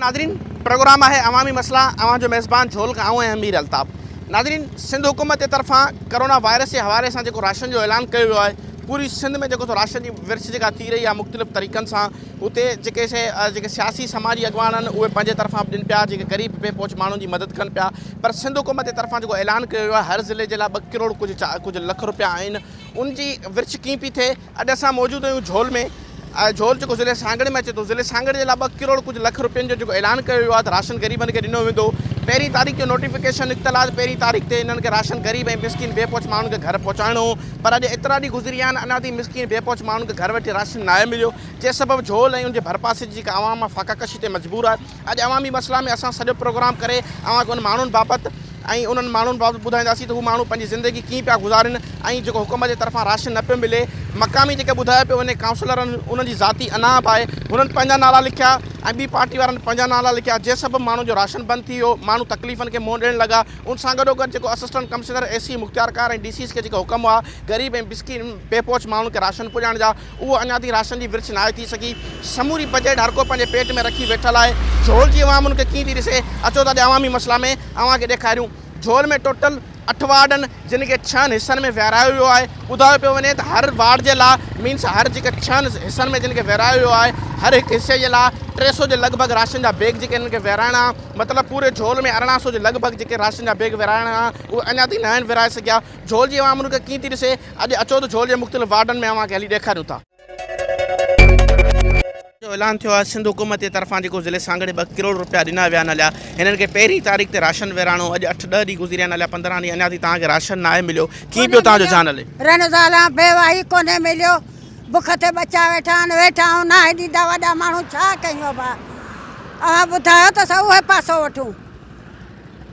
ناظرين پروگرام آهي عوامي مسئلا اوهان جو ميزبان جھول کان آئون آهيان مير الطاف ناظرين سنڌ حڪومت جي طرفان ڪرونا وائرس جي حوالي سان جيڪو راشن جو اعلان ڪيو ويو آهي پوري سنڌ ۾ جيڪو سو راشن جي ورڇ جيڪا ٿي رهي آهي مختلف طريقن سان اتي جيڪي سي جيڪي سياسي سماجي اڳواڻ آهن اهي پنهنجي طرفان به ڏين پيا جيڪي غريب بي پهچ ماڻهن جي مدد ڪن پيا پر سنڌ حڪومت جي طرفان جيڪو اعلان ڪيو ويو آهي هر ضلعي جي لاء ٻه ڪروڙ ڪجهه چا ڪجهه لک روپيا آهن ان جي ورڇ ڪيئن پي ٿئي اڄ اسان موجود آهيون جھول ۾ جھول جيڪو ضلعي سانگھڙ ۾ اچي ٿو ضلعي سانگھڙ جي لاء ٻه ڪروڙ ڪجهه لک روپين جو جيڪو اعلان ڪيو ويو آهي ته راشن غريبن کي ڏنو ويندو پهرين تاريخ جو نوٽيفڪيشن نڪتل آهي ته پهرين تاريخ تي انهن کي راشن غريب ۽ مسڪين بي پهچ ماڻهن کي گھر پهچائڻو پر اڄ ايترا ڏينهن گذري ويا آهن، اڃا تائين مسڪين بي پهچ ماڻهن کي گهر ويٺي راشن ناهي مليو، جنهن سبب جهول ۽ ان جي ڀرپاسي جي جيڪا عوام آهي فاقه ڪشي تي مجبور آهي. اڄ عوامي مسئلا ۾ اسان سڄو پروگرام ڪري اوهان کي ان ماڻهن بابت ۽ انهن ماڻهن بابت ٻڌائينداسين ته هو ماڻهو پنهنجي زندگي ڪيئن پيا گذارين ۽ جيڪو حڪومت جي طرفان راشن نه پيو ملي، مقامي جيڪي ٻڌايو پيو وڃي ڪائونسلرن انهن جي ذاتي اناپ آهي، هنن پنهنجا نالا لکيا ۽ ٻي پارٽي وارن پنهنجا نالا لکيا، جنهن سبب ماڻهن جو راشن بند ٿي ويو، ماڻهو تڪليفن کي منهن ڏيڻ لڳا، ان سان گڏوگڏ جيڪو اسسٽنٽ ڪمشنر، اي سي، مختيارڪار ۽ ڊي سيز کي جيڪا حڪم هئا غريب ۽ مسڪين بي پهچ ماڻهن کي راشن پڄائڻ جا اهو اڃا تائين راشن جي ورڇ ناهي ٿي سگهي. سموري بجيٽ هرڪو پنهنجي پيٽ ۾ رکي ويٺل آهي. جهول جي عوام ان کي ڪيئن ٿي ڏسي؟ اچو ته اڄ عوامي مسئلا ۾ اوهان کي ڏيکاريون. جهول ۾ ٽوٽل اٺ وارڊ آهن جن کي ڇهن حصن ۾ ورهايو ويو آهي. ٻڌايو پيو وڃي ته هر وارڊ جي لا مينس هر جيڪي ڇهن حصن ۾ جن کي ورهايو ويو آهي هر هڪ حصي جي لا ٽي سو جي لڳ ڀڳ راشن جا بيگ جيڪي هنن کي ورهائڻا مطلب پوري جهول ۾ ارڙهن سو جي لڳ ڀڳ جيڪي راشن جا بيگ ورهائڻا هئا، اهي اڃا تائين ناهن ورهائي سگهيا. جهول جي عوام انهن کي ڪيئن ٿي ڏسي؟ اڄ اچو ته جهول جي مختلف وارڊن ۾ اوهان کي هلي ڏيکاريون ٿا. جو اعلان ٿيو آهي، سنڌ حڪومت جي طرفان جيڪو ضلعي سانگهڙي ٻه ڪروڙ رپيا ڏنا ويا آهن اليا هنن کي پهرين تاريخ تي راشن ورهائڻو هو، اڄ اٺ ڏهه ڏينهن گذريا آهن اليا پندرهن ڏينهن اڃا تائين توهان کي راشن ناهي مليو، ڪيئن پيو توهان جو جان هلي؟ رنزالا، بيواهي، ڪونهي مليو. بک تي ٻچا ويٺا آهن، ويٺا آهون ناهي ڏيندا وڏا ماڻهو ڇا ڪيون ابا اوهان ٻڌايو ته اسان اهي پاسو وٺون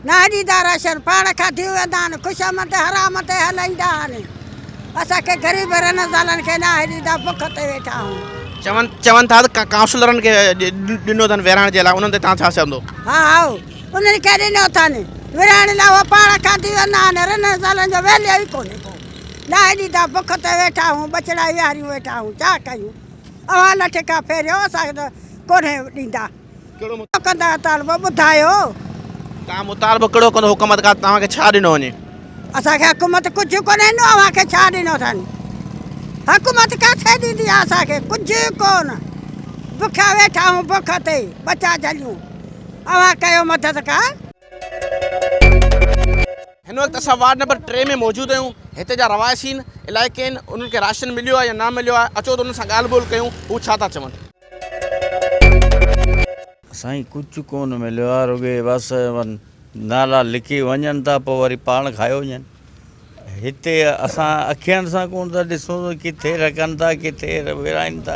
ناهي ڏيندا راشن پاڻ کاڌيون ويندا آهن خوش آمد حرام تي هلائيندا آهن اسان کي غريب رنه زالن کي ناهي ڏيندا بک تي ويٺا آهون. چون چون ٿا ته ڪائونسلرن کي ڏنو اٿن ورهائڻ جي لاء انهن تي توهان ڇا چوندو؟ ها هائو انهن کي ڏنو اٿن ورهائڻ لاء اهي پاڻ کاڌيون ويندا آهن رنه زالن جو ويليو ئي ڪونهي ڪو. ڏاهي ڏيندا بک تي ويٺا هون ٻچڙا ويهاريون ويٺا هون ڇا ڪيون اوهان لٺ کان ڦيريو اسان کي ڪونهي ڏيندا ڪهڙو ڪندا مطالبو ٻڌايو توهان مطالبو ڪهڙو ڪندو حڪومت کان توهان کي ڇا ڏنو وڃي اسان کي حڪومت ڪجهه ڪونهي ڏنو اوهان کي ڇا ڏنو اٿن حڪومت ڪٿي ڏيندي آهي اسان کي ڪجهه ڪون بکيا ويٺا هون بک تي ٻچا جهليون اوهان ڪيو مدد ڪا هن وقت اسان وارڊ نمبر ٽي ۾ موجود آهيون هتي جا رهواسين الائي ڪين انهن کي راشن مليو آهي يا نه مليو آهي اچو ته انهن سان ڳالهه ٻولهه ڪيون هو ڇا ٿا چون. سائين ڪجھ ڪون مليو آ رڳي بس نالا لکي وڃن ٿا پو وري پاڻ کائي وڃن هتي اسان اکين سان ڪون ٿا ڏسون ڪٿي رکن ٿا ڪٿي ورهائن ٿا.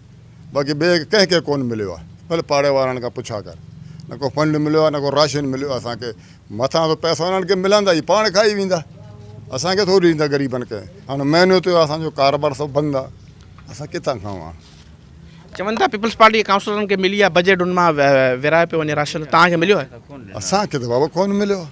باقي ٻئي ڪنهن کي ڪونه مليو آهي ڀلي پاڙي وارن کان پڇا ڪر نه ڪو فنڊ مليو آهي نه ڪو راشن مليو آهي اسان کي مٿان سو پئسا انهن کي ملندا اهي پاڻ کائي ويندا اسان کي ٿوري ڏيندا غريبن کي هاڻي مهينو ٿيو اسان جو ڪاروبار سڀ بند آهي اسان ڪٿان کائون هاڻي چون ٿا پيپلز پارٽي جي ڪائونسلرن کي ملي آهي بجيٽ ان مان ورهايو پيو وڃي راشن تان کي مليو آهي اسان کي ته بابا ڪونه مليو آهي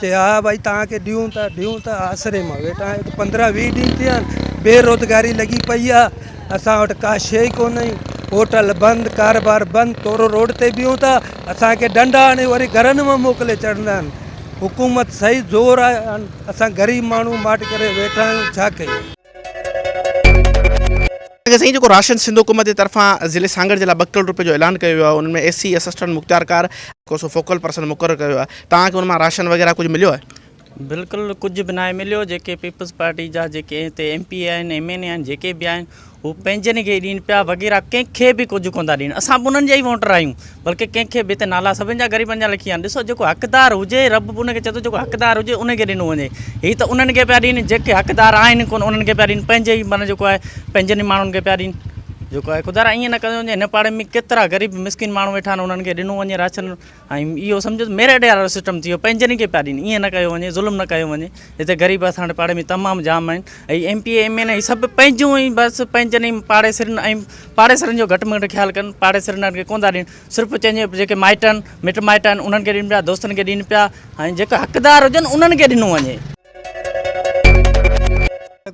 چي ها ڀائي توهان کي ڏيون ٿا ڏيون ٿا آسري مان ويٺا آهيون پندرهن ويهه ڏينهن ٿيا آهن بي روزگاري لڳي پئي آهي اسان وٽ ڪا شي ئي ڪونهي هوٽل بند ڪاروبار بند تورو روڊ تي بيهون ٿا اسان کي ڏنڊا هڻي وري گهرن ۾ موڪلي ڇڏندا آهن حڪومت صحيح زور آهي اسان غريب ماڻهو ماٺ ڪري ويٺا آهيون ڇا ڪيون اگه سائين جيڪو راشن سنڌ حڪومت جي طرفان ضلعي سانگهڙ جي لاء ٻه ڪروڙ روپين جو اعلان ڪيو ويو آهي ان ۾ ايس سي اسسٽنٽ مختيارڪار ڪو سو فوڪل پرسن مقرر ڪيو ويو آهي توهان کي ان مان راشن وغيره ڪجهه مليو آهي؟ بلڪل ڪجهه به ناهي مليو جيڪي پيپلز پارٽي جا جيڪي هتي ايم پي اي آهن ايم اين اي آهن جيڪي به آهن هو پنهنجن کي ڏين پيا وغيره ڪنهن کي به ڪجهه ڪونه ٿا ڏين اسان به انهن جا ئي ووٽر آهيون بلڪه ڪنهن کي به هتي نالا سڀن جا غريبن جا لکي ويا آهن ڏسو جيڪو حقدار هجي رب به ان کي چئي ٿو جيڪو حقدار هجي ان کي ڏنو وڃي هي ته انهن کي پيا ڏين جيڪي حقدار آهن ڪونه انهن کي پيا ڏين پنهنجي ئي معنيٰ جيڪو آهي پنهنجن ئي ماڻهن کي پيا ڏين جيڪو آهي خدا را ائين نه ڪيو وڃي هن پاڙي ۾ ڪيترا غريب مسڪين ماڻهو ويٺا آهن انهن کي ڏنو وڃي راشن ۽ اهو سمجهو ته ميرٽ وارو سسٽم ٿي ويو پنهنجن ئي کي پيا ڏين ائين نه ڪيو وڃي ظلم نه ڪيو وڃي هتي غريب اسان وٽ پاڙي ۾ تمام جام آهن ۽ M P A M N A سڀ پنهنجون ئي بس پنهنجن ئي پاڙيسرين ۽ پاڙيسرين جو گهٽ مڳٽ خيال ڪن پاڙيسرين وارن کي ڪونه ٿا ڏين صرف چئجي جيڪي مائٽ آهن مٽ مائٽ آهن انهن کي ڏين پيا دوستن کي ڏين پيا ۽ جيڪا حقدار هجن انهن کي ڏنو وڃي.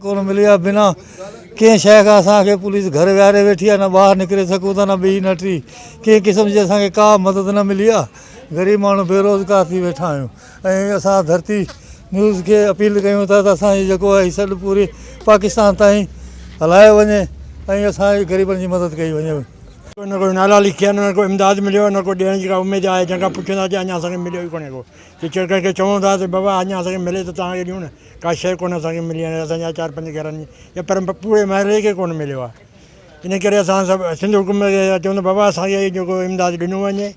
ڪونه ملي آهي بنا ڪنهن شيء کان اسان کي پوليس گهر ويهاري ويٺي آهي نه ٻاهر نڪري سگهون ٿا نه ٻي نه ٽي ڪنهن قسم جي اسان کي ڪا مدد نه ملي آهي غريب ماڻهو بيروزگار ٿي ويٺا آهيون ۽ اسان ڌرتي نيوز کي اپيل ڪيون ٿا ته اسان جي جيڪو هي سڏ پوري پاڪستان تائين هلايو وڃي ۽ اسان جي غريبن جي مدد ڪئي وڃي. نه ڪو نالا لکيا نه ڪو امداد مليو نه ڪو ڏيڻ جي ڪا اميد آهي جنهن کان پڇوندا چي اڃا اسان کي مليو ئي ڪونهي ڪو جي چيئر ڪنهن کي چئون ٿا ته بابا اڃا اسان کي ملي ته توهان کي ڏيون نه ڪا شيء ڪونه اسان کي ملي آهي اسان جا چار پنج گهرن جي يا پر پوري محلي کي ڪونه مليو آهي ان ڪري اسان سڀ سنڌ حڪومت کي چئون ٿا بابا اسان کي جيڪو امداد ڏنو وڃي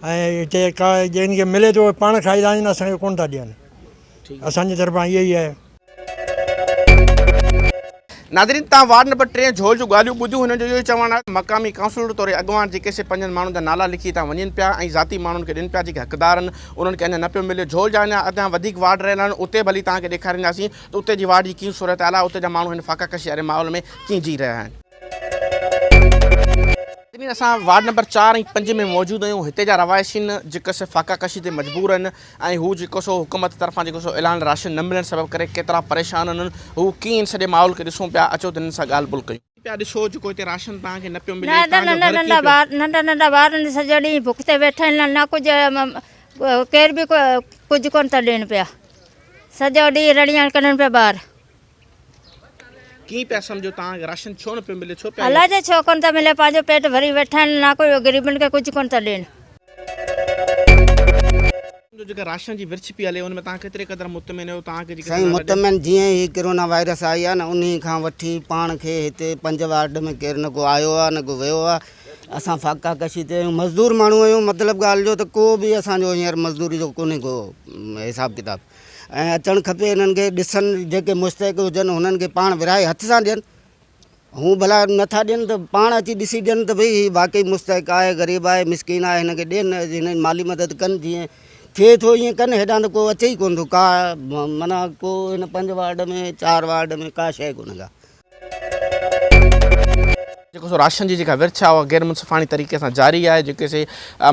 ۽ هتي ڪا جن کي ملي ٿو اهي پاڻ کائي ٿا وڃن اسان کي ڪونه ٿا ڏين اسان جي طرفان اهي ئي آهي. ناظرين تان وارڊ نمبر ٽي جھول جون ڳالهيون ٻڌيون هنن جو اهو ئي چوڻ آهي مقامي ڪائونسلر توڙي اڳواڻ جيڪي سي پنهنجن ماڻهن جا نالا لکي هتان وڃين پيا ۽ ذاتي ماڻهن کي ڏين پيا جيڪي حقدار آهن انهن کي اڃان نه پيو ملي جھول جا اڃان اڳيان وڌيڪ وارڊ رهيل آهن اتي به هلي توهان کي ڏيکارينداسين ته اتي جي وارڊ جي ڪيئن صورتحال آهي اتي جا ماڻهو هن فاقا ڪشي واري ماحول ۾ ڪيئن جي رهيا آهن. ناظرين اسان وارڊ نمبر چار ۽ پنج ۾ موجود آهيون هتي جا رهوائشين جيڪو سو فاقا ڪشي تي مجبور آهن ۽ هو جيڪو سو حڪومت طرفان جيڪو سو اعلان راشن نه ملڻ سبب ڪري ڪيترا پريشان آهن انهن هو ڪيئن ان سڄي ماحول کي ڏسون پيا اچو ته انهن سان ڳالهه ٻولهه ڪيون. پيا ڏسو جيڪو هتي راشن توهان کي نه پيو ملي توهان جو گهر ڪيئن پيو. ننڍا ننڍا ٻار آهن سڄو ڏينهن بک تي ويٺا آهن نه ڪجهه ڪير به ڪجهه ڪونه ٿا ڏين پيا سڄو ڏينهن رڙيون ڪرن پيا ٻار. ڪيئن پيا سمجهو توهان کي راشن ڇو نه پيو ملي ڇو پيا الله جي ڇو ڪونه ٿا ملي پنهنجو پيٽ ڀري ويٺا آهن نه ڪو غريبن کي ڪجهه ڪونه ٿا ڏين. جو جيڪا راشن جي ورڇ پي هلي ان ۾ توهان ڪيتري قدر مطمئن آهيو توهان کي جيڪي سائين مطمئن جيئن هي ڪرونا وائرس آئي آهي نه انهي کان وٺي پاڻ کي هتي پنج وارڊ ۾ ڪير نه ڪو آيو آهي نه ڪو ويو آهي اسان فاقا ڪشي تي آهيون مزدور ماڻهو آهيون مطلب ڳالهه جو ته ڪو به اسان جو هينئر مزدوري جو ڪونهي ڪو حساب ڪتاب ۽ اچڻ کپي انهن کي ڏسن جيڪي مستحق هجن انهن کي پاڻ ورهائي هٿ سان ڏين هون ڀلا نٿا ڏين ته پاڻ اچي ڏسي ڏين ته ڀئي هي واقعي مستحق آهي غريب آهي مسڪين آهي هن کي ڏين هن جي مالي مدد ڪن جيئن ٿئي ٿو ائين ڪن هيڏانهن ته ڪو اچي ئي ڪونه ٿو ڪا معنيٰ ڪو هن پنج وارڊ ۾ چار وارڊ ۾ ڪا شيء ڪونه ڪا جيڪو سو راشن جي جيڪا ورڇ آهي اها غير منصفاڻي طريقي سان جاري آهي جيڪي سي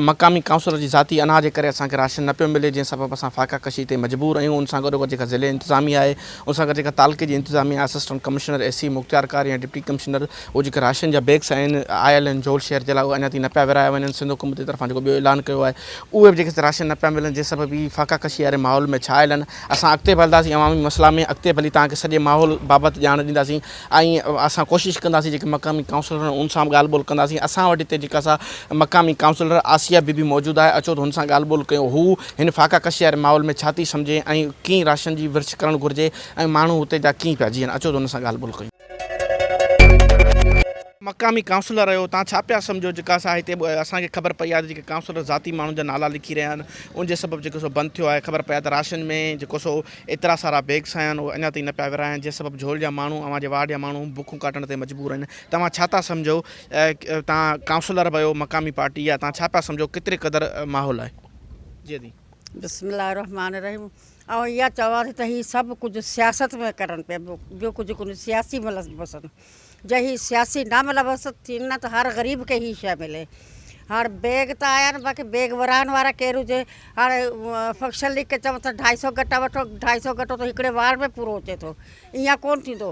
مقامي ڪائونسلر جي ذاتي انا جي ڪري اسان کي راشن نه پيو ملي جنهن سبب اسان فاقا ڪشي تي مجبور اهيون ان سان گڏوگڏ جيڪا ضلعي انتظاميه آهي ان سان گڏ جيڪا تعلقي جي انتظاميه اسسٽنٽ ڪمشنر اي سي مختيارڪار يا ڊپٽي ڪمشنر اهو جيڪا راشن جا بيگس آهن آيل آهن جهول شهر جي لاء اهي اڃا تائين نه پيا ورهايا وڃن سنڌ حڪومت جي طرفان جيڪو ٻيو اعلان ڪيو آهي اهي به جيڪي سي راشن نه پيا ملن جنهن سبب هي فاقا ڪشي واري ماحول ۾ ڇانيل آهن اسان اڳتي به هلنداسين عوامي مسئلا ۾ اڳتي به هلي توهان کي سڄي ماحول بابت ڄاڻ ڏينداسين ۽ اسان ڪوشش ڪنداسين جيڪي مقامي ڪائونسلر ان سان به ڳالهه ٻولهه ڪنداسين اسان وٽ هتي جيڪا سا مقامي ڪائونسلر آسيه بي بي موجود آهي اچو ته هن سان ڳالهه ٻولهه ڪيو هو هن فاقا ڪشي واري ماحول ۾ ڇا ٿي سمجهي ۽ ڪيئن راشن جي ورڇ ڪرڻ گهرجي ۽ ماڻهو هتي جا ڪيئن پيا جيئن اچو ته هن سان ڳالهه ٻولهه ڪيون. مقامي ڪائونسلر آهيو تان ڇا پيا سمجهو جيڪا سا هتي اسان کي خبر پئي آهي ته جيڪي ڪائونسلر ذاتي ماڻهن جا نالا لکي رهيا آهن ان جي سبب جيڪو سو بند ٿيو آهي خبر پئي آهي ته راشن ۾ جيڪو سو ايترا سارا بيگس آيا آهن اڃا تائين نه پيا ورهاين جنهن سبب جهول جا ماڻهو اوهان جي وارڊ جا ماڻهو بکون ڪاٽڻ تي مجبور آهن توهان ڇا ٿا سمجهو تان ڪائونسلر به آهيو مقامي پارٽي جا تان ڇا پيا سمجهو ڪيتري قدر ماحول آهي جي دي. بسم الله الرحمن الرحيم. آئون اها چوان ٿي ته هي سڀ ڪجهه سياست ۾ ڪرن پيا ٻيو ڪجهه ڪونهي سياسي ملبوسن جي هي سياسي نه ملبوس ٿين نه ته هر غريب کي هي شيء ملي هاڻ بيگ ته آيا آهن باقي بيگ ورهائڻ وارا ڪير هجي هاڻ فنڪشن ليگ کي چئون ته ڍائي سئو گٽا وٺو ڍائي سئو گٽو ته هڪڙي وارڊ ۾ پورو اچي ٿو ايئن ڪونهي ٿيندو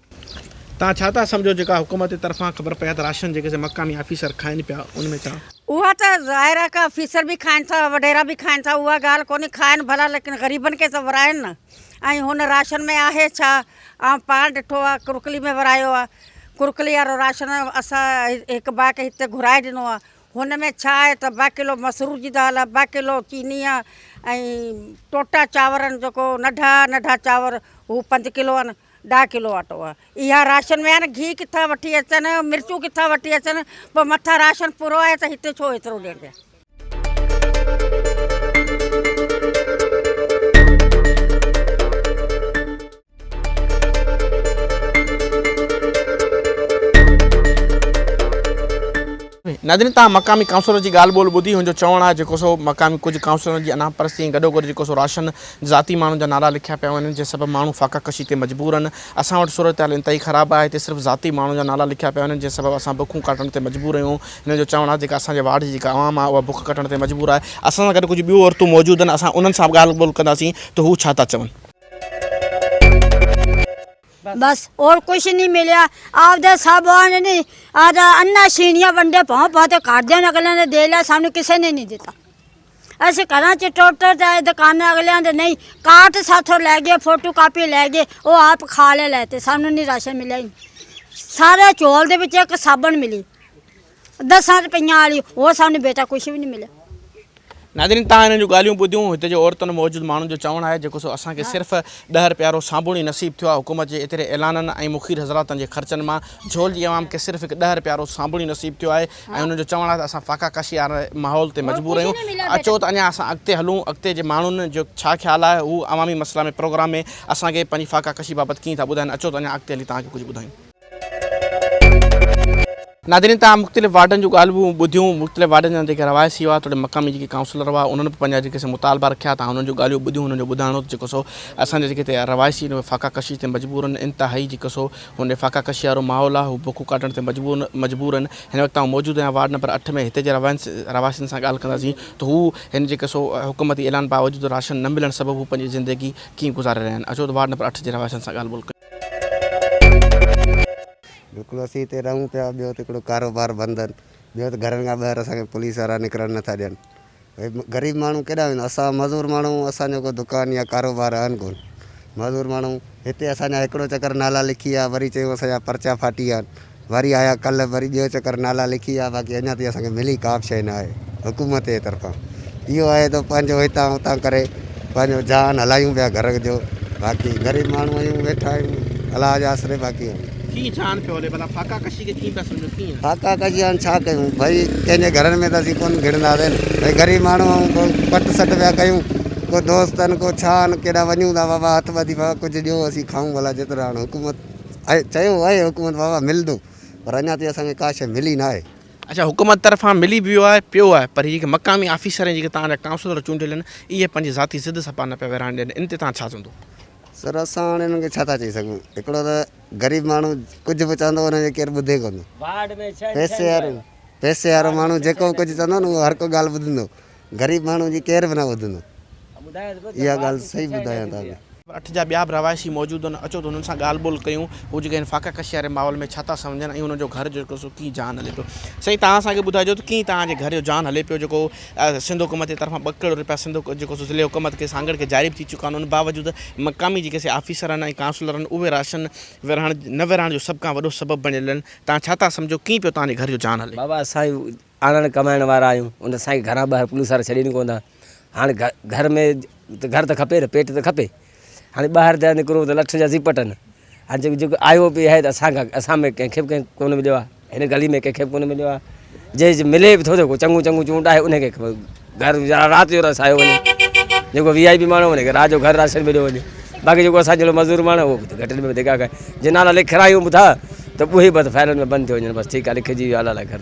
توهان ڇا ٿا سمجهو جيڪا حڪومت جي طرفان خبر پئي ته راشن جيڪي سي مقامي آفيسر کائن پيا ان ۾ ڇا. اها ته ظاهر آهي ڪا آفيسر به کائن ٿا وڏيرا به کائن ٿا اها ڳالهه ڪونهي کائن ڀلا ليڪن غريبن کي ته وراين نه ۽ هن راشن ۾ آهي ڇا آئون پاڻ ڏٺو آهي ڪرڪلي ۾ ورايو آهي ڪرڪلي وارو راشن اسان هڪ ڀاء کي هتي گهرائي ڏنو آهي هن ۾ ڇا آهي ته ٻه ڪلو مسرور جي دال آهي ٻه ڪلو چيني آهي ۽ ٽوٽا چانورن جيڪو ننڍا ننڍا چانور هو پنج ڪلو آهن ڏهه ڪلو اٽو اها راشن ۾ آهن گيهه ڪٿان وٺي اچن مرچون ڪٿان وٺي اچن پوء مٿان راشن پورو آهي ته هتي ڇو ايترو ڏين پيا. ناظرين توهان مقامي ڪائونسلر جي ڳالهه ٻولهه ٻڌي هن جو چوڻ آهي جيڪو سو مقامي ڪجهه ڪائونسلرن جي انا پرستي ۽ گڏوگڏ جيڪو سو راشن ذاتي ماڻهن جا نعرا لکيا پيا وڃن جنهن سبب ماڻهو فاقه ڪشي تي مجبور آهن، اسان وٽ صورتحال انتهائي خراب آهي، هتي صرف ذاتي ماڻهن جا نعرا لکيا پيا وڃن جنهن سبب اسان بکون ڪاٽڻ تي مجبور آهيون، هنن جو چوڻ آهي جيڪا اسان جي وارڊ جي جيڪا عوام آهي اها بک ڪٽڻ تي مجبور آهي، اسان سان گڏ ڪجهه ٻيون عورتون موجود آهن اسان انهن سان به ڳالهه ٻولهه ڪنداسين ته هو ڇا ٿا چون. بس اور ڪجھ نھين مليا آپدي سب آن نھين آدا انھا شينھيا ونڈي پھو پھو تي کارديو نھين اگليان نھين ديلا سانو کسي نھين دتا. اسين گھران چٽوٽر جا اي دڪان اڳليان جي نئين ڪارڊ ساٿو لئي گئي فوٽو ڪاپي لئي گئي او آپ کھا لئي لئي تي سانو ني راشن ملئي سارا چول دي وچ ايڪ صابن ملي دسان روپيان آلي او سانو بيٽا ڪچھ وي ني ملئي۔ ناظرين تان انهن جون ڳالهيون ٻڌيون هتي جي عورتن موجود ماڻهن جو چوڻ آهي جيڪو سو اسان کي صرف ڏهه رپيا رو صابڻ ئي نصيب ٿيو آهي حڪومت جي ايتري اعلانن ۽ مخير حضراتن جي خرچن مان جھول جي عوام کي صرف هڪ ڏهه رپيا رو صابڻ ئي نصيب ٿيو آهي ۽ انهن جو چوڻ آهي ته اسان فاقا ڪشي واري ماحول تي مجبور آهيون، اچو ته اڃا اسان اڳتي هلون، اڳتي جي ماڻهن جو ڇا خيال آهي، هو عوامي مسئلا ۾ پروگرام ۾ اسان کي پنهنجي فاقا ڪشي بابت ڪيئن ٿا ٻڌائين، اچو ته اڃا اڳتي هلي توهان کي ڪجهه ٻڌايون. ناظرين توهان مختلف وارڊن جون ڳالهيون ٻڌيون، مختلف وارڊن جا جيڪي رهواسي هئا توڙي مقامي جيڪي ڪائونسلر هئا انهن به پنهنجا جيڪي سا مطالبا رکيا توهان انهن جون ڳالهيون ٻڌيون انهن جو ٻڌائڻ هو ته جيڪو سو اسان جا جيڪي هتي رهواسي آهن اهي فاقا ڪشي تي مجبور آهن انتهائي جيڪو سو هن فاقا ڪشي وارو ماحول آ هو بکون ڪاٽڻ تي مجبور هن هن وقت آئون موجود آهيان وارڊ نمبر اٺ ۾ هتي جي رهواسين سان ڳالهه ڪنداسين ته هو هن جي قصو حڪومتي اعلان باوجود راشن نه ملڻ سبب هو پنهنجي زندگي ڪيئن گذاري رهيا آهن اچو ته وارڊ نمبر اٺ جي رهواسين سان ڳالهه ٻولهه ڪيون. بلڪل اسين هتي رهون پيا ٻيو ته هڪڙو ڪاروبار بند آهن ٻيو ته گهرن کان ٻاهر اسان کي پوليس وارا نڪرڻ نٿا ڏين ڀئي غريب ماڻهو ڪيڏانهن ويندا اسان معذور ماڻهو اسان جو ڪو دڪان يا ڪاروبار آهن ڪون معذور ماڻهو هتي اسان جا هڪڙو چڪر نالا لکي ويا وري چيو اسان جا پرچا ڦاٽي ويا آهن وري آيا ڪلهه وري ٻيو چڪر نالا لکي ويا باقي اڃان تائين اسان کي ملي ڪا به شيء نه آهي حڪومت جي طرفان اهو آهي ته پنهنجو هتان هتان ڪري پنهنجو جهان هلايون پيا گهر جو باقي غريب ماڻهو آهيون ويٺا آهيون الله جي آسري باقي ڪيئن جان پيو هلي ڀلا ڦاڪا ڪشي کي ڪيئن پيا سمجهو ڪيئن. ڦاڪا ڪشي هاڻ ڇا ڪيون ڀئي ڪنهن جي گهرن ۾ ته اسين ڪونه گهڙندا سين ڀئي غريب ماڻهو آهون ڪو پٽ سٽ پيا ڪيون ڪو دوست آهن ڪو ڇا آهن ڪيڏانهن وڃون ٿا بابا هٿ ٻڌي بابا ڪجهه ڏيو اسين کائون ڀلا جيترو هاڻ حڪومت آهي چيو آهي حڪومت بابا ملندو پر اڃا تائين اسان کي ڪا شيء ملي ناهي. اڇا حڪومت طرفان ملي به ويو آهي پيو آهي پر هي جيڪي مقامي آفيسر ۽ جيڪي توهان جا ڪائونسلر چونڊيل آهن اهي پنهنجي ذاتي ضد سپا نه پيا ورهائڻ ڏين ان تي توهان ڇا چوندو. سر اسان هاڻي انهن کي ڇا ٿا چئي سگهون هڪڙو ته غريب ماڻهو ڪجهه به چوندو انهن جي ڪير ٻڌي ڪو نه پئسي وارو پئسي وارو ماڻهو جيڪو به ڪجهه چوندو نه اهو هر ڪو ڳالهه ٻڌندو غريب ماڻهو جي ڪير به نه ٻڌندو اها ڳالهه صحيح ٻڌايان توهان کي. اٺ جا ٻيا به رهواسي موجود هئن اچو ته انهن سان ڳالهه ٻولهه ڪيون هو جيڪي هن فاقه ڪشي واري ماحول ۾ ڇا ٿا سمجهن ۽ انهن جو گهر جيڪو سو ڪيئن جان هلي پيو سائين توهان اسان کي ٻڌائجو ته ڪيئن توهان جي گهر جو جان هلي پيو جيڪو سنڌ حڪومت جي طرفان ٻه ڪروڙ رپيا سنڌ حڪومت جيڪو سو ضلعي حڪومت کي سانگهڙ کي جاري به ٿي چڪا آهن ان باوجود مقامي جيڪي سي آفيسر آهن ۽ ڪائونسلر آهن اهي راشن ورهائڻ نه ورهائڻ جو سڀ کان وڏو سبب بڻيل آهن تان ڇا ٿا سمجهو ڪيئن پيو توهان جي گهر جو جان هلي. بابا اسان آنڻ ڪمائڻ وارا آهيون ان اسان کي گهران ٻاهر پوليس وارا ڇڏين ڪونه ٿا هاڻ گهر ۾ گهر ته کپي نه پيٽ ته کپي. هاڻي ٻاهر ته نڪرو ته لٺ جا زي پٽن هاڻي جيڪو جيڪو آيو به آهي ته اسان کان اسان ۾ ڪنهن کي به ڪونه مليو آهي هن گلي ۾ ڪنهن کي به ڪونه مليو آهي جي جي ملي به ٿو جيڪو چڱو چڱو چونڊ آهي ان کي گهر ويهارا رات جو رسايو وڃي جيڪو وي آئي پي ماڻهو وڃي رات جو گهر راشن مليو وڃي باقي جيڪو اسان جهڙو مزور ماڻهو اهو به گهٽين ۾ ڌڪا کائي جي نالا لکرايون به ٿا ته اهي بس فائلن ۾ بند ٿيو وڃن بس ٺيڪ آهي لکجي ويو آلا لاء گهر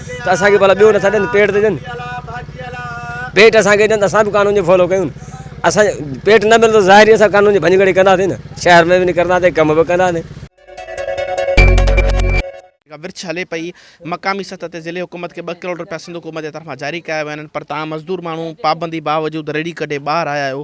ته اسان کي ڀلا ٻيو نٿا ڏين پيٽ ته ڏين پيٽ اسان کي ڏين ته اسان به قانون جو فالو ڪيون اسان پيٽ نه ملندو ظاهري اسان قانون جي ڀڃڪڙي ڪنداسين نه شهر ۾ به نڪرنداسين ڪم به ڪنداسين ورڇ هلي پئي مقامي سطح تي ضلعي حڪومت کي ٻه ڪروڙ روپيا سنڌ حڪومت جي طرفان جاري ڪيا ويا آهن پر تاهم مزدور ماڻهو پابندي باوجود ريڙي ڪڍي ٻاهر آيا آهيو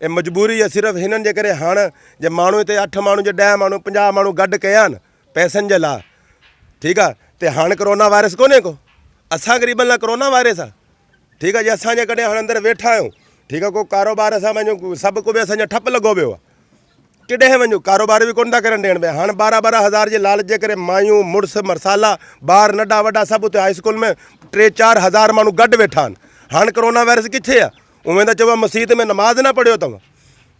اي مجبوري اي صرف هنن جي ڪري هاڻ جي ماڻهو هتي اٺ ماڻهو جي ڏهه ماڻهو پنجاهه ماڻهو گڏ ڪيا آهن پئسن جي لا ٺيڪ آهي تي هاڻ ڪرونا وائرس ڪونهي ڪو اسان غريبن لا ڪرونا وائرس آهي ٺيڪ آهي جي اسان جي ڪڏهن هاڻ اندر ويٺا آهيون ٺيڪ آهي ڪو ڪاروبار اسان پنهنجو سڀ ڪو به اسان جا ٺپ لڳو ويو آهي ڪيڏانهن وڃون؟ ڪاروبار به ڪونه ٿا ڪرڻ ڏيڻ پيا. هاڻ ٻارهن ٻارهن هزار جي لالچ جي ڪري مايون، مڙس، مرسالا، ٻار ننڍا وڏا سڀ اتي هاء اسڪول ۾ ٽي چار هزار ماڻهو گڏ ويٺا آهن. هاڻ ڪرونا وائرس ڪٿي آهي؟ اوهين ته چئبو آهي مسيت ۾ نماز نه پڙهيو اتو.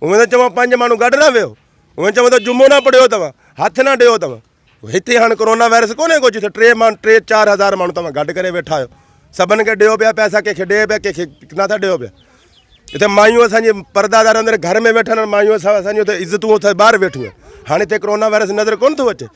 اوهين ته چئبو آهي پنج ماڻهو گڏ نه ويهو. اوهين چئبو ته جمعو نه پڙهيو اتو. هٿ نه ڏيو اتو. هتي هاڻ ڪورونا وائرس ڪونهي ڪو جتي ٽي مان ٽي چار هزار ماڻهو توهان گڏ ڪري ويٺا آهيو سڀن کي ڏيو پيا پيسا ڪنهن کي ڏي پيا ڪنهن کي ڪنا ٿا ڏيو پيا هتي مايون اسانجي پردادار اندر گهر ۾ ويٺل آهن مايون سڀ اسانجي هتي عزتون اٿس ٻاهر ويٺيون آهن هاڻي هتي ڪورونا وائرس نظر ڪونه ٿو اچي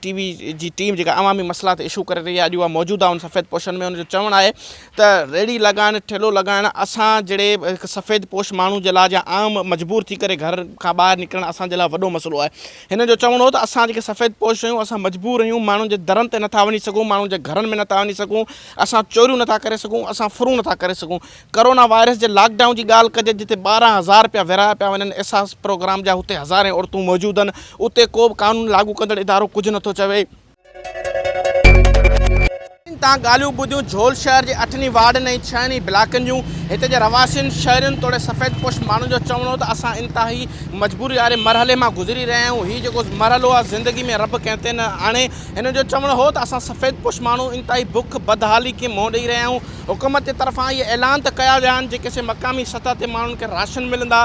ٽي وي جي ٽيم جيڪا عوامي مسئلا تي اشو ڪري رهي آهي اڄ اها موجود آهي ان سفيد پوشن ۾ ان جو چوڻ آهي ته ريڙهي لڳائڻ، ٺيلهو لڳائڻ اسان جهڙي هڪ سفيد پوش ماڻهو جي لاء جا عام مجبور ٿي ڪري گهر کان ٻاهر نڪرڻ اسان جي لاء وڏو مسئلو آهي. هن جو چوڻ هو ته اسان جيڪي سفيد پوش آهيون اسان مجبور آهيون ماڻهن جي درن تي نٿا وڃي سگهون، ماڻهن جي گهرن ۾ نٿا وڃي سگهون، اسان چوريون نٿا ڪري سگهون، اسان ڦرون نٿا ڪري سگهون. ڪرونا وائرس جي لاڪ ڊائون جي ڳالهه ڪجي جتي ٻارهن هزار پيا ورهايا پيا وڃن احساس پروگرام جا هتي هزارين عورتون موجود آهن اتي ڪو به قانون لاڳو ڪندڙ ادارو ڪجهه نٿو چوي. تان ڳالهيون ٻڌيون جھول شهر جي اٺن ئي وارڊن ۽ ڇهن ئي بلاڪن جون. هتي جي رهواسين، شهرين توڙي سفيد پوش ماڻهن جو چوڻ هو ته اسان انتهائي مجبوري واري مرحلي مان گذري رهيا آهيون. هي جيڪو مرحلو آهي زندگي ۾ رب ڪنهن تي نه آڻي. هنن جو چوڻ هو ته اسان سفيد پوش ماڻهو انتهائي بک، بدحالي کي منهن ڏئي رهيا آهيون. حڪومت جي طرفان اهي اعلان ته ڪيا ويا آهن جيڪي سي مقامي سطح تي ماڻهن کي راشن ملندا.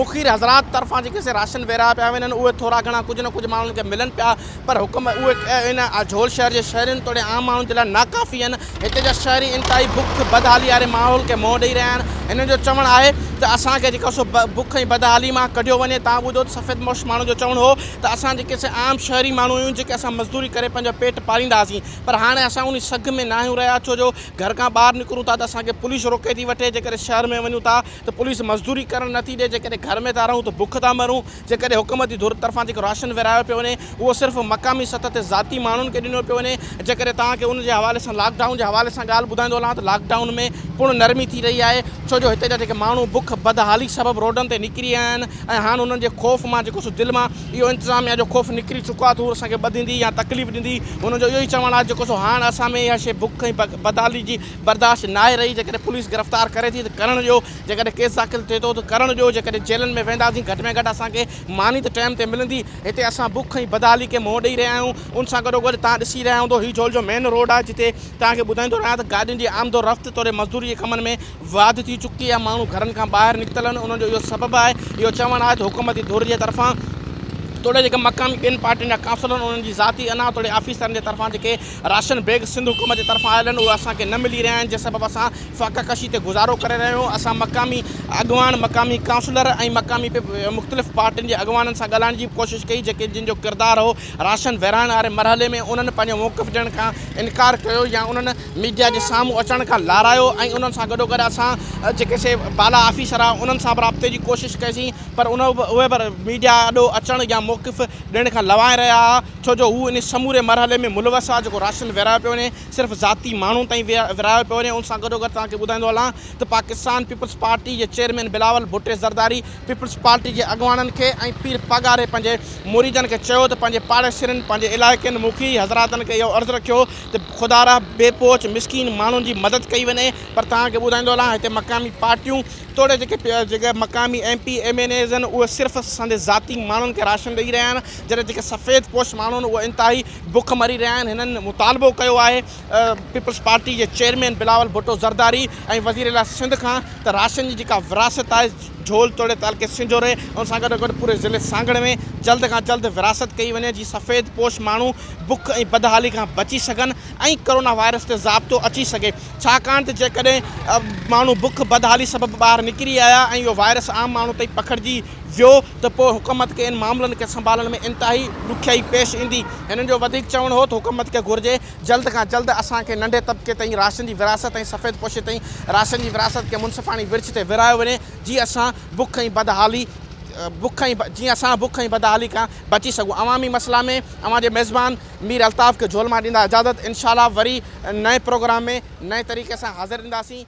مخير حضرات طرفان جيڪي سي راشن ورهايا پيا وڃن اهي ٿورا گهڻا ڪجهه نه ڪجهه ماڻهن کي ملن پيا. پر حڪم اهي ان اجهول شهر جي شهرين توڙي عام ماڻهن جي لاء ناڪافي آهن. هتي جا شهري انتهائي بک، بدحالي واري ماحول کي منهن ڏئي رهيا آهن. هنن جو چوڻ آهي ته اسان کي جيڪو سو بک ۽ بدحالي مان ڪڍيو وڃي. توهان ٻڌو ته سفيدپوش ماڻهن جو چوڻ هو ته اسان جيڪي سي عام شهري ماڻهو آهيون جيڪي اسان مزدوري ڪري پنهنجو پيٽ پاليندا هئاسين پر هاڻي اسان انهي سگهه ۾ ناهيون رهيا ڇو جو گهر کان ٻاهر نڪرون ٿا ته اسان کي پوليس روڪي ٿي وٺي جيڪڏهن شهر ۾ وڃون ٿا ته پوليس مزدوري ڪرڻ نٿي ڏئي جيڪڏهن گهر ۾ ٿا رهون ته بک ٿا مرون. جيڪڏهن حڪومتي ڌر طرفان جيڪو راشن ورهايو پيو وڃي اهو صرف مقامي سطح تي ذاتي ماڻهن کي ڏنو پيو وڃي جيڪڏهن توهان کي ان جي حوالي سان لاڪ ڊائون جي حوالي سان ڳالهه ٻڌائيندو هلان ته لاڪ ڊائون ۾ پڻ نرمي ٿي رهي آهي ڇو جو هتي جا جيڪي ماڻهو بک بدحالي سبب روڊن تي نڪري آيا آهن ۽ هاڻ انهن جي خوف مان جيڪو سو دل مان اهو انتظاميا جو خوف نڪري چڪو آهي ته هو اسان کي ٻڌيندي يا تڪليف ڏيندي انهن جو اهو ئي چوڻ آهي جيڪو سو هاڻ اسان ۾ اها شيء بک ۽ بدحالي جي برداشت ناهي رهي جيڪڏهن پوليس گرفتار ڪري ٿي ته ڪرڻ ڏيو جيڪڏهن ڪيس داخل ٿئي ٿو ته ڪرڻ ڏيو، جيڪڏهن جيلن ۾ وينداسين گهٽ ۾ گهٽ اسان کي ماني ته ٽيم تي ملندي، هتي اسان بک ۽ بدحالي کي منهن ڏئي رهيا آهيون، ان سان گڏوگڏ تهان ڏسي رهيا هوندو هي جهول جو مين روڊ آهي جتي توهان کي ٻڌائيندو رهيان ته گاڏين جي آمد و رفت توڙي مزدوري جي ڪمن ۾ واڌ ٿي چڪي آهي ماڻهو گهرن کان ٻاهر نڪتل آهن انهن جو اهو سبب آهي اهو چوڻ آهي ته حڪومتي ڌر جي طرفان توڙي جيڪي مقامي ٻين پارٽين جا ڪائونسلر آهن انهن جي ذاتي انا توڙي آفيسرن جي طرفان جيڪي راشن بيگ سنڌ حڪومت جي طرفان آيل آهن اهي اسان کي نه ملي رهيا آهن جنهن سبب اسان فاقه ڪشي تي گذارو ڪري رهيو هو اسان مقامي اڳواڻ مقامي ڪائونسلر ۽ مقامي مختلف پارٽين جي اڳواڻن سان ڳالهائڻ جي به ڪوشش ڪئي جيڪي جن جو ڪردار هو راشن ورهائڻ واري مرحلي ۾ انهن پنهنجو موقف ڏيڻ کان انڪار ڪيو يا انهن ميڊيا جي سامهون اچڻ کان لارايو ۽ انهن سان گڏوگڏ اسان جيڪي سي بالا آفيسر هئا انهن سان به رابطي جي ڪوشش ڪئي سين پر ان اهي به ميڊيا آڏو اچڻ يا موقف ڏيڻ کان لوائي رهيا ها ڇو جو هو ان سموري مرحلي ۾ ملوث هئا جيڪو راشن ورهايو پيو وڃي صرف ذاتي ماڻهن تائين ورهايو پيو وڃي ان سان گڏوگڏ توهان کي ٻڌائيندو هلان ته پاڪستان پيپلز پارٽي جي chairman Bilawal Bhutto Zardari Peoples Party جي اڳواڻن کي ۽ پير پاڳاري پنهنجي مريدن کي چيو ته پنهنجي پاڙيسرين پنهنجي علائقين مکي حضراتن کي اهو عرض رکيو ته خدارا بي پهچ مسڪين ماڻهن جي مدد ڪئي وڃي پر توهان کي ٻڌائيندو هلان هتي مقامي پارٽيون توڙي جيڪي مقامي M P M N As آهن اهي صرف سندي ذاتي ماڻهن کي راشن ڏئي رهيا آهن جڏهن جيڪي سفيد پوش ماڻهو آهن اهي انتهائي بک مري رهيا آهن هنن مطالبو ڪيو آهي پيپلز پارٽي جي چيئرمين بلاول ڀٽو زرداري ۽ وزير اعليٰ سنڌ کان ته راشن جي جيڪا وراثت آهي جهول توڙي تعلقي سنجهوري ان سان گڏو گڏ پوري ضلعي سانگهڙ ۾ جلد کان جلد وراثت ڪئي وڃي جي سفيد پوش ماڻهو بک ۽ بدحالي کان بچي سگهن ۽ ڪورونا وائرس تي ضابطو اچي سگهي ڇاڪاڻ ته جيڪڏهن ماڻهو بک بدحالي سبب ٻاهر نڪري آيا ۽ اهو وائرس عام ماڻهو تائين پکڙجي ويو ته پوء حڪومت کي ان معاملن کي سنڀالڻ ۾ انتهائي ڏکيائي پيش ايندي. هنن جو وڌيڪ چوڻ هو ته حڪومت کي گهرجي جلد کان جلد اسان کي ننڍي طبقي تائين راشن جي ورهاست ۽ سفيد پوشي تائين راشن جي ورهاست کي منصفاڻي ورڇ تي ورهايو وڃي جيئن اسان بک ۽ بدحالي بک ۽ جيئن اسان بک ۽ بدحالي کان بچي سگهون عوامي مسئلا ۾ اوهان جي ميزبان مير الطاف کي جهولمان ڏيندا اجازت انشاء الله وري نئين پروگرام ۾ نئين طريقي سان حاضر اينداسين.